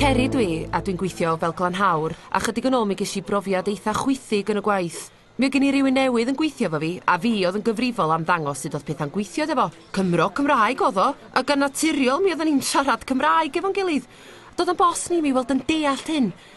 Ceri dwi, a dwi'n gweithio fel glanhawr, a chydig yn ôl mi ges i brofiad eitha chwythig yn y gwaith. Mi oedd gen i rywun newydd yn gweithio efo fi, a fi oedd yn gyfrifol am ddangos sut oedd pethau'n gweithio iddo fo. Cymro Cymraeg oedd o, a gan naturiol mi oedden ni'n siarad Cymraeg efo'n gilydd. Doedd o'n boss ni mi weld yn deallt hyn,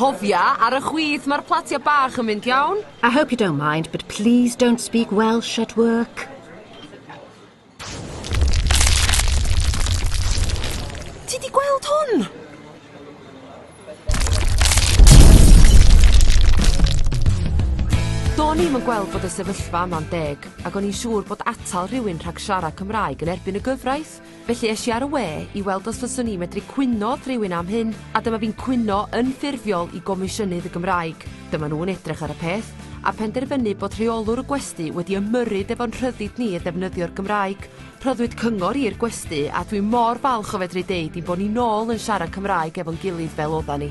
Cofia, ar y chwith mae'r platia bach yn mynd iawn. I hope you don't mind, but please don't speak Welsh at work. Ti di gweld hwn? Do'n i'm yn gweld bod y sefyllfa yma'n deg, ac o'n i'n siŵr bod atal rhywun rhag siarad Cymraeg yn erbyn y gyfraith. Felly es i ar y we i weld os fyswn i'n medru cwyno rhywun am hyn, a dyma fi'n cwyno yn ffurfiol i Gomisiynydd y Gymraeg. Dyma nhw'n edrych ar y peth, a phenderfynu bod rheolwr y gwesty wedi ymyrryd efo'n rhyddid ni i ddefnyddio'r Gymraeg, Rhoddwyd cyngor i'r gwesty a dwi mor falch o fedru deud ein bod ni nôl yn siarad Cymraeg efo'n gilydd fel odda ni.